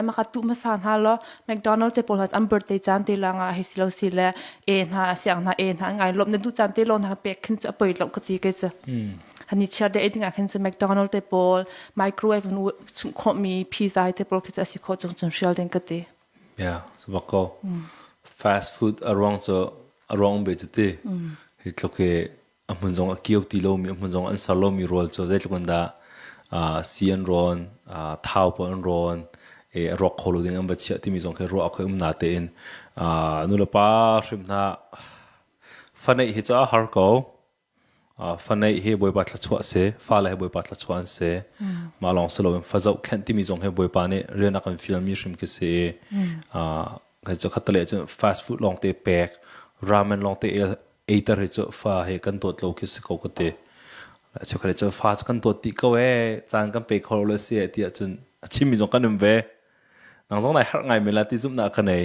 makatu hmasa hna lo McDonald te pawl an birthday chan te la nga hi silo si le e hna siang hna e hna ngai lom na du chan te lo na pek khin chu apoi lo ka ti ke chu hani chiar de eting a khin chu McDonald te pawl microwave nu chung kho mi pizza te pawl khi chu asi kho chung chung shell den ka ti yeah so bako fast food arong chu arong be chu ti hi thluke a hmun zong a kio ti lomi a hmun zong an ser lomi rawl cu zeitluk in dah si an rawn thau pawl an rawn a rawk kho lo ding an va chiah timi zong khi ruah a khoi um na tein nulepa hrim hna faneih hi cu a har ko faneih hi bawipa thluachuah si fale hi bawipa thluachuah an si mah lawng si loin fazoh khenh timi zong hi bawipa nih rian a kan fialmi hrim khi si Hai cu khat le cun fast food lawngte pek, ramen lawngte eiter hi cu fa he kan dawt lo khi si ko ka te. Cu khat le cun fa kan dawt ti ko ee, caan kan pe kho lo si ti ahcun a chimmi zong kan um ve. Nang zong nai harh ngai men la ti zumh nak ka nei.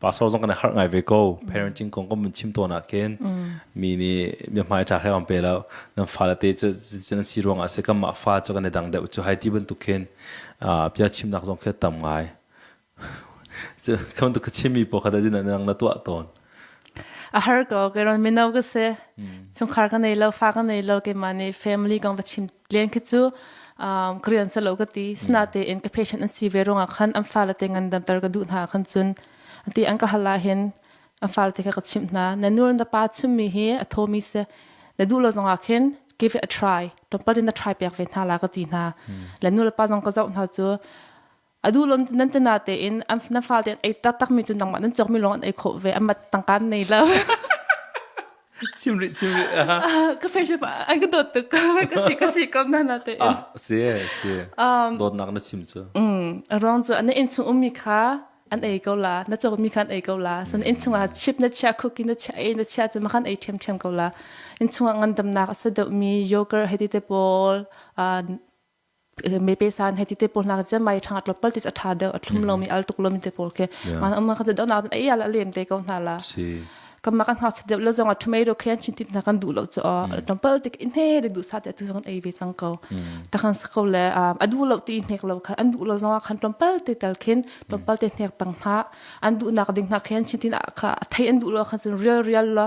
Pastor zong kan harh ngai ve ko. Parenting kong kan mun chim tawn ah khin mi nih mi hmai tha he on pe lo nan fa la te cu zin si ruang ah si kan mah fa cu kan i dang deuh cu hai ti bantuk khin bia chimnak zong khi tam ngai Kam tu ka chimi po khata jin nang na tua ton. A har ko ke ron mino ka se. Chung khar ka nei lo fa ka nei lo ke mani family kong ta chim len ke chu Korean sa lo ka ti. Sna te in ka patient an si ve runga khan am fa la te ngan dan tar ka du na khan chun. Anti an ka hala hin am fa te ka ka chim na. Na nur na pa chumi hi a thomi se. Na du lo zonga khin give it a try. Tom pa din na try pek ve na la ka ti na. La nu la pa zong ka zau na chu A duh lo nan te na tein na fale tein ei taktakmi cu nangmah nan cawkmi lawng an ei khawh ve a mat tangka nei lo. Chimrih chimrih. Ka friendship an ka dawt tuk ka si ka si kam na na te. Ah si si. Dawtnak na chim cu. A ruang cu na in chung ummi kha an ei ko la na cawkmi kha an ei ko la san in chungah chip na chia cookie na chia ei na chia cu makhan ei ṭhem ṭhem ko la in chungah ngandamnak a sa deuhmi yogurt heti te pawl mepesan heti te pol nak zen mai thang atlo pal tis atha deu athlum lo mi al tuk lo mi te pol ke man amma ka deu na den ai ala lem te ko na la kama kan hak deu lo zong tomato khen chin tit na kan du lo cho tom pal tik in he de du sa te tu zong ai ve sang ko ta kan sa ko le adu lo ti hnek lo kha andu lo zong khan tom pal te tal khin tom pal te hnek tang ha andu nak ding na khen chin tin kha thai andu lo khan real real lo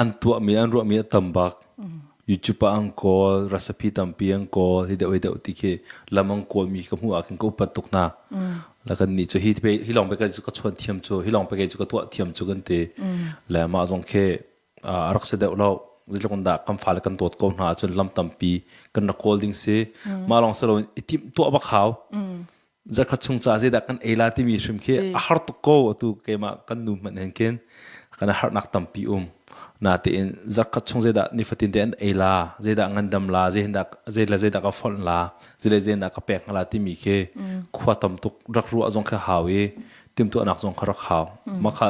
An tuahmi an ruahmi a tam bak. YouTube ah an kawl, recipe tampi an kawl, hi deuh hi deuh ti khi lam an kawlmi ka hmuh ahkhin ka upat tuk hna. La kan nih cu hi pe, hi lawng pe cu ka chuan thiam cu, hi lawng pe cu ka tuah thiam cu kan ti. Le mah zong khi a rak si deuh lo. Zeitluk dah kan fale kan dawt ko hna ahcun lam tampi kan rak kawl ding si. Mah lawng si loin i timh tuah bak hau. Zakhat chung ca zeidah kan ei la timi hrim khi a har tuk ko atu keimah kan nu hmanh hen khin kan harnak tampi um natein zakhat chung zeidah nifatin te an ei la zeidah ngandam la zeihindah zeila zeidah ka fonh la zeile zeidah ka pek la timi khi khua tam tuk rak ruah zong kha hau i timtuahnak zong kha rak hau makha